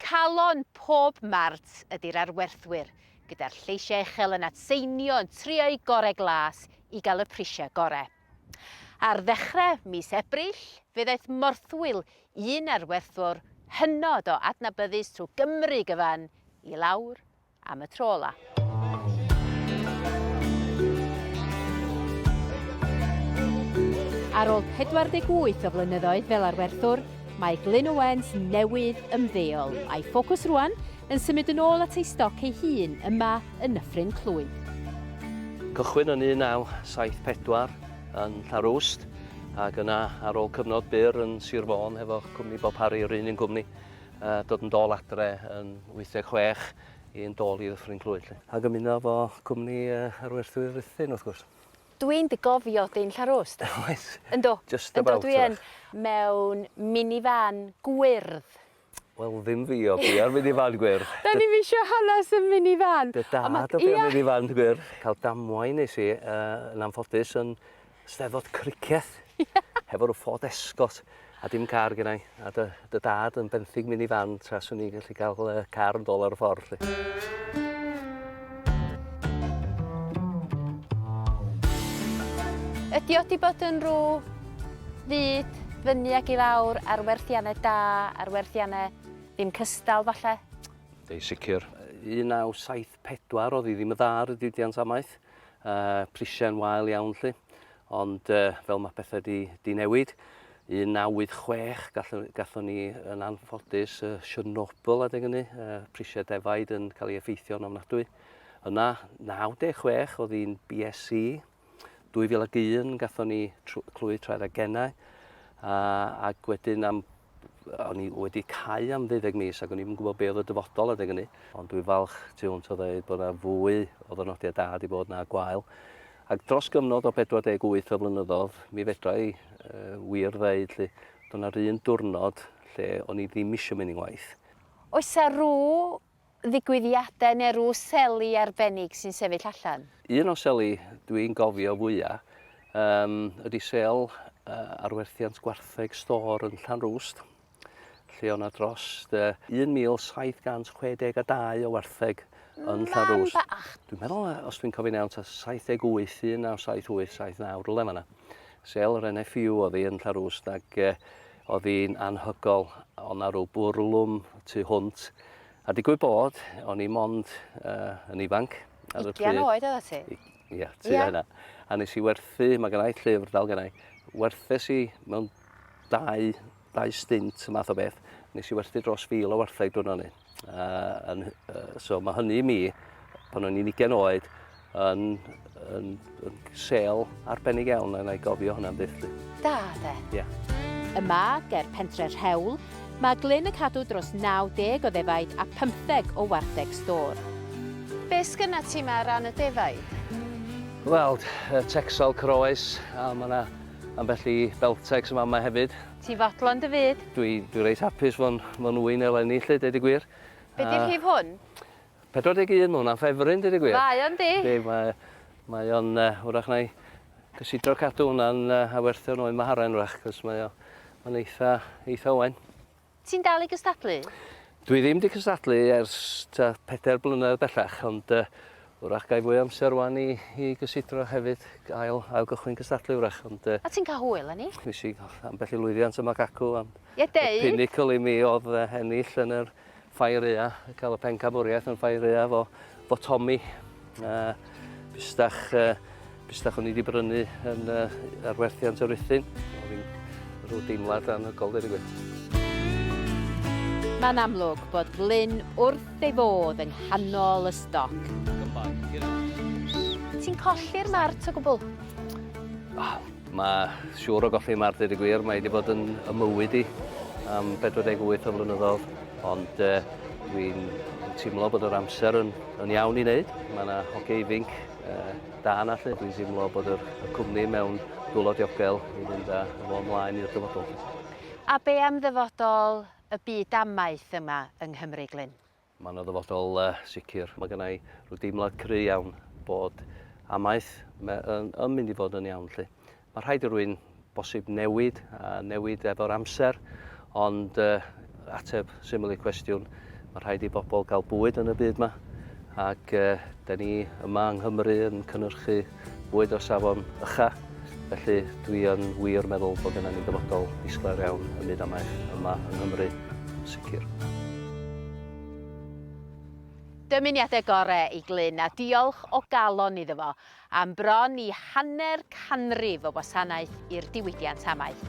Calon pob mart ydy'r arwerthwyr, gyda'r lleisiau uchel yn atseinio yn trio'u gorau glas i gael y prisiau gorau. Ar ddechrau mis Ebrill, fe ddaeth morthwyl un arwerthwr hynod o adnabyddus trwy Gymru gyfan i lawr am y tro ola. Ar ôl 48 o flynyddoedd fel arwerthwr, mae Glyn Owens newydd ymddeol, a'i ffocws rwan yn symud yn ôl at ei stoc ei hun yma yn Nyffryn Clwyd. Cychwyn yn 1974 yn Llarwst, ac yna ar ôl cyfnod byr yn Sir Fôn hefo'ch cwmni Bob Harry, yr un un gwmni, A dod yn dôl adre yn 86 i yn dôl i Ddyffryn Clwyd 'lly. Ac ymuno efo cwmni yr werthwyr Ruthun wrth gwrs. Dwi'n dy gofio di'n Llanrwst. Oes. Yndw. Just about. Yndw dwi yn. Mewn mini van gwyrdd. Wel ddim fi o fi ar mini van gwyrdd. Da ni'm isio hanes y mini van. Dy dad o fi ar mini van gwyrdd. Cael damwain nes i yy yn anffodus yn Steddfod criceth. Hefo rhyw Ford Escort a dim car gen i. A dy, dy dad yn benthyg mini fan tra swn i'n gallu cael uh, car yn dol ar y ffordd. Lli. Ydy o di bod yn rhyw fyd fyny ag i lawr ar werthiannau da, ar werthiannau ddim cystal falle? Ei sicr. 1974 oedd hi ddim y dda ar y diwydiant amaeth. uh, prisiau yn wael iawn lli. Ond uh, fel mae pethau di, di newid, 1986 gallwn, gallwn ni yn anffodus uh, Chernobyl adeg hynny, uh, prisiau defaid yn cael ei effeithio'n ofnadwy. Yna 96 oedd hi'n BSC, 2001 gatho ni clwy traed a gennau, a, ac wedyn am o'n i wedi cau am ddeuddeg mis ac o'n i'n gwybod be oedd y dyfodol adeg hynny. Ond dwi'n falch tu hwnt o ddeud bod yna fwy o ddynodiau da wedi bod na gwael. Ac dros gyfnod o 48 o flynyddoedd, mi fedra i uh, wir ddeud lle, dyna'r un diwrnod lle o'n i ddim eisiau mynd i'n waith. Oes a rhyw ddigwyddiadau neu rw seli arbennig sy'n sefyll allan? Un o seli dwi'n gofio fwya yym ydi sel yy ar werthiant gwartheg stôr yn Llanrwst lle o' 'na drost yy 1762 o wartheg yn Llanrwst. Man bach! Dwi'n meddwl yy os dwi'n cofio'n iawn ta 78, 1978, 79, rwle fan 'na. Sel yr NFU o'dd 'i yn Llanrwst ag yy Oedd hi'n anhygoel, oedd 'na ryw bwrlwm tu hwnt, a digwydd bod, o'n i mond uh, yn ifanc ar y pryd. Ugian oed oedd ti? Ie, yeah, ti yeah. hynna. A nes i werthu, mae gennau llyfr dal gennau, werthes i mewn dau, dau stint y math o beth, nes i werthu dros fil o wartheg dwi'n o'n un. Uh, and, uh, so mae hynny i mi, pan o'n i'n ugen oed, yn, yn, yn sel arbennig iawn, a na i gofio hwnna'n byth. Da, de? Ie. Yeah. Yma, ger pentre Rhewl, mae Glyn y cadw dros 90 o ddefaid a 15 o wartheg stor. Be sgynna ti yma ran y defaid? Wel, texel croes, a mae yna ambell i beltex yma yma hefyd. Ti fodlon dy fyd. Dwi, dwi reit hapus fo'n, fo'n ŵyn eleni 'lly, deud y gwir. Be 'di rhif hwn? 41, ma' hwnna'n ffefryn deud y gwir. Mae o'n 'di. Yndi, mae, mae o'n yy, wrach na'i gysidro cadw hwnna'n yy awerthion oen Maharen wrach, 'c'os mae o, ma'n eitha, eitha oen. Ti'n dal i gystadlu? Dwi ddim 'di cystadlu ers ta pedair blynedd bellach, ond yy Wrach gai fwy o amser rwan i i gysidro hefyd, ail ail gychwyn cystadlu wrach ond yy... O ti'n cael hwyl â ni? Nes i ambell i lwyddiant yma ac acw ond... Ie deud! ...y pinnacle i mi odd yy ennill yn yr Ffair Ua, ca'l y pencampwriaeth yn Ffair Ua 'fo 'fo Tommy yy bustach yy Bysdach o'n i wedi brynu yn uh, arwerthiant o Ruthun. Oedd hi'n rhyw deimlad anhygol, dweud y gwir. Mae'n amlwg bod Glyn wrth ei fodd yng nghanol y stoc. Ti'n colli'r mart o gwbl? Oh, mae siŵr o golli mart dweud y gwir, mae wedi bod yn ymywyd i am 48 o flynyddoedd, ond uh, dwi'n teimlo bod yr amser yn, yn iawn i wneud. Mae yna hoge ifinc da yna lle. Dwi'n teimlo bod yr, y cwmni mewn dwylo diogel i fynd â fo ymlaen i'r dyfodol. A be am ddyfodol y byd amaeth yma yng Nghymru, Glyn? Mae yna ddyfodol uh, sicr. Mae gennau rhyw deimlad cry iawn bod amaeth yn, yn mynd i fod yn iawn lle. Mae rhaid i rwy'n bosib newid a newid efo'r amser, ond ateb syml i cwestiwn, mae rhaid i bobl gael bwyd yn y byd yma, ac da ni yma yng Nghymru yn cynnyrchu bwyd o safon ycha, felly dwi yn wir meddwl bod gennym ni dyfodol disglair iawn ym myd amaeth yma yng Nghymru, yn sicr. Dymuniadau gorau i Glyn a diolch o galon iddo fo Am bron i hanner canrif o wasanaeth i'r diwydiant amaeth.